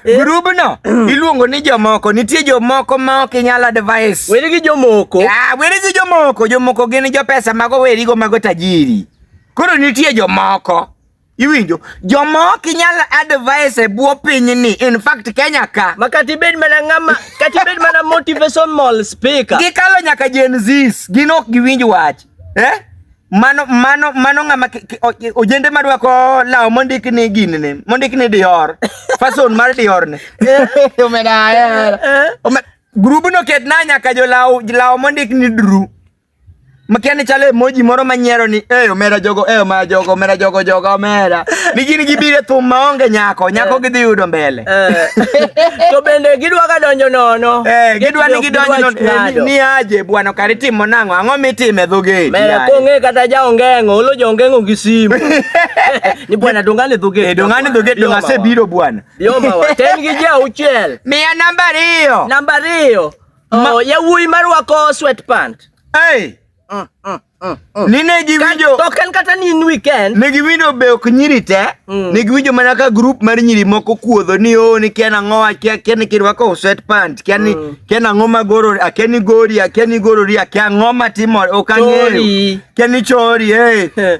Grup no iluongo ni jomoko. Nitie jomoko ma ok inyal advise. Weri gi jomoko. Ah, weri gi jomoko. Jomoko gin jo pesa mago weri go mago tajiri. Koro nitie jomoko. Iwinjo? Jomoko inyal advise e bwo piny ni. In fact Kenya ka. Ma kata ibed mana ng'ama, kata ibed mana motivational speaker. Gikalo nyaka Gen Zs. Gin ok giwinj wach. Eh? mano mano mano ng'ama ojende madwako law mondik ni gini ni mondik ni dior fason mar dior ni omedaya eh, eh. grubu no ket na nyaka jo law law mondik ni dru makia ni chale emoji moro manyiero ni e omera jogo e omera jogo omera jogo jogo omera ni gini gibire thum maonge nyako nyako eh. gidhi yudo mbele Eh. to bende gidwa ka donjo nono eh, gidwa ni gidonjo nono eh, ni aje bwana kari timo nang'o ang'o mitime dhogeti mera kong'e kata ja ongeng'o olo ja ongeng'o gi simu ni bwana dongane dhogeti eh, dongane dhogeti donga se biro bwana yomawa ten gi ja uchiel miya namba ariyo namba ariyo oh, yawuoyi marwako sweat pant hey. Mm, mm, mm, mm. Nine giwinjo to ken kata ni in weekend. Ne giwinjo be ok nyiri te. Mm. Ne giwinjo mana ka group mar nyiri moko kuodho ni o oh, ni kia nang'o akia kia ni kirwako sweat pant kia ni mm. kia nang'o magoro akia ni gori akia ni gorori akia ng'o matimo ok ang'eyo. Kia ni chori eh.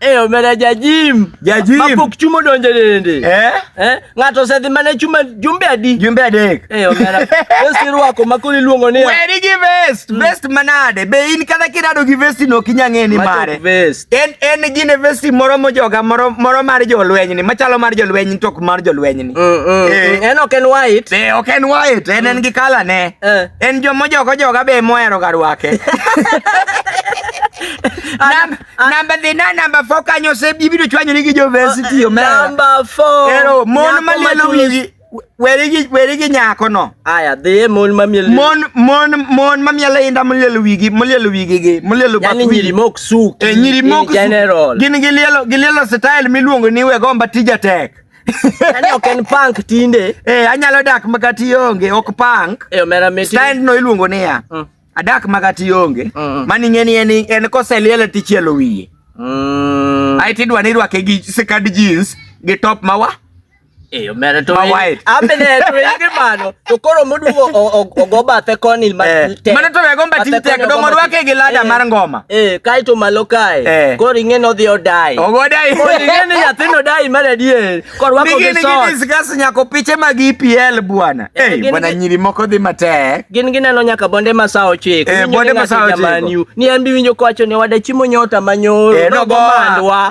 Eh, omera jajim. Jajim. Mapok chuma odonjo e dende. Eh? Eh? Ng'ato osedhi mana chuma jumbe adi? Jumbe adek. Eh, omera. Vesti rwako ma koro iluongo ni. Weri gi vest. Mm. Vest manade. Be in kata kirado gi vesti no kinya ng'e ni mare. Vest. En en gine vesti moro mojoga moro moro mar jolweny ni machalo mar jolweny tok mar jolweny ni. Mm, mm, eh. mm. En ok en white. Eh, ok en white. En en mm. gi kala ne. Eh. En jomo jogo joga be mohero ga rwake. Ah. Namba the na namba 4 kanyo se bibido chwanyo ni gi jo versity yo mera. Namba 4. Ero mon malielo wigi werigi werigi nyako no. Aya the mon mamielo. Mon mon mon mamielo inda malielo wigi malielo wigi gi malielo bakwi. Yani nyiri mok suki. E nyiri mok general. Gin gilielo gilielo style miluongo ni we gomba tija tek. Ani ok en punk tinde. Eh anyalo dak makati onge ok punk. E omera meti. Style no iluongo niya. Mm. adak makati onge mm. mani ng'eni en, en koseliele tichielo wiye mm. ae tidwa ni irwake gi sikad jeans gi top mawa eyo mere to mawait amene to yige mano to koro modugo ogo bathe koni eh. mano to wego mbati tek do morwake gi lada eh. mar ngoma eh kai to malo kai eh. koro ing'e no dhi odai ogo dai koro ing'e ni nyathino dai mar adier Korwako gi Gini sot. gini discuss nyako piche mag EPL bwana. Eh, Eh, gini bwana gi- nyiri moko dhi matek. Gin gineno nyaka bonde masaa ochiko. Eh, Winjo bonde ni ng'ato masaa ochiko. jaman yu. Ni an bi winjo kowacho ni wada chiemo nyota manyoro. Eh, Nogo nogoa. mandwa.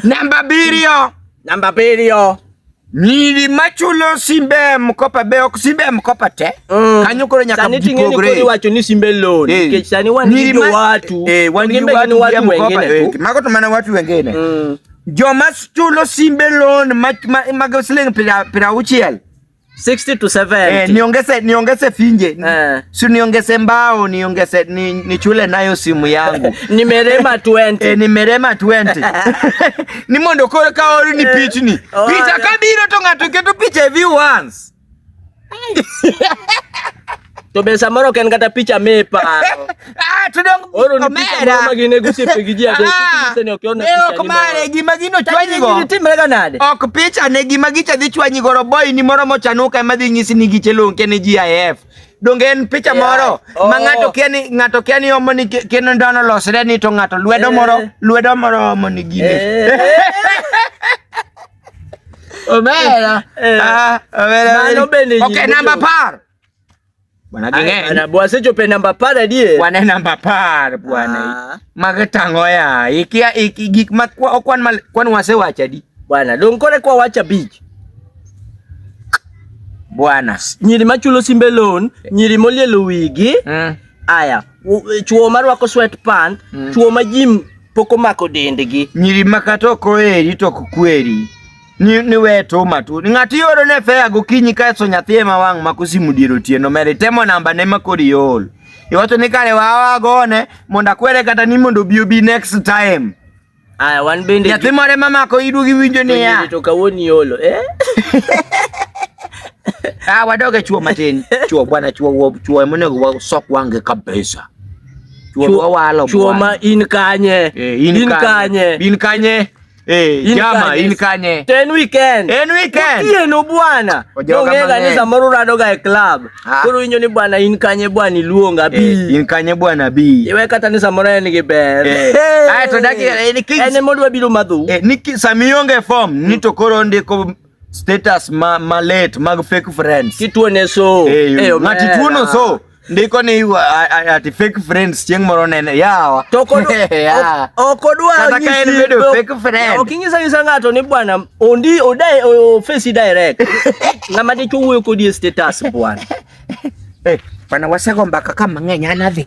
Namba abiriyo. Namba abiriyo. Nyiri machulo simbe mkopa be ok simbe mkopa te. Mm. Kanyo koro nyaka sani ting'eni koro iwacho ni simbe loan eh. nikech sani wan gi jo watu. Eh, wan gi watu watu mkopa. Eh, mago to mana watu wengine. Mm. Joma chulo simbe loan mag ma, ma, ma siling pira pira uchiel. 60 to 70. Eh, niongeze niongeze finje. Eh. Si niongeze mbao, niongeze ni, nichule nayo simu yangu. nimerema 20. Eh, nimerema 20. ni mondo koro ka ori ni eh, pichni picha ka biro to ng'ato keto picha e view once to be samoro ken kata picha me pa ah to dong oro ni picha moro ma gine gusi pe gi ji ade ah, se ne okiona picha ok mare gi ma gino chwanyi go ni timre ga nade ok picha ne gi ma gicha dhi chwanyi go boy ni moro mo chanuka ma dhi nyisi ni giche lonke ne GIF Donge en picha Yeah. moro ma Oh. ng'ato kia ni ng'ato kia ni omo ni ke- keno ndono losre ni to ng'ato lwedo moro Eh. lwedo moro omo ni gine. Eh. Omera. Eh. Ah, omera. Mano bende Okay, nyingi namba jo. par. Bwana Ay, ging'eny. bana, bwasechopo e namba apar adier Bwana e namba par bwana. Ah. Mage tango ya. Ikia iki gik ma kwa- okwan mal kwan wasewacho adi. bwana dong kore kwawacho abich bwana nyiri machulo simbe loan nyiri molielo wigi mm. aya chuo marwako sweat pant mm. chuo ma jim pok omako dendgi nyiri makata ok oheri to ok kweri ni, ni we to matu ni ng'ati yoro ne fea gokinyi ka so nyathi ema wang' mako simu dier otieno mere temo namba ne makori yol iwacho ni kare wawa gone mondo akwere kata ni mondo obi obi next time Aya, wan bende nyathi moro ema mako idu gi winjo niya to kawuono iolo eh? Ah, wadog e chuo matin chuo bwana chuo chuo emonego wasok wange kabisa chuo ma in kanye eh, in kanye in kanye Hey, eh, jama in kanye? Ten weekend. En weekend. Otieno bwana. Ongega ni samoro rado ga e club. Ah. Koro inyo ni bwana in kanye bwana iluonga eh, bi. Eh, in kanye bwana bi. Iwe kata ni samoro en gi ber. Eh. Hey. Ai to daki eh, ni kis. En modwa biro madhu. Eh, ni samionge form ni to koro ndiko status ma ma late mag fake friends. Kituo ne so. Eh, hey, ngati tuo no so. Ndiko ni ati fake friends chieng' moro nene yawa. To koro. Okodwa. Kata ka en bedo fake friend. Okinyisa nyisa ng'ato ni bwana Ondi odae o face direct. Na made chuo ko di status bwana. Eh, bwana wasego mbaka kama ng'enya nadhi.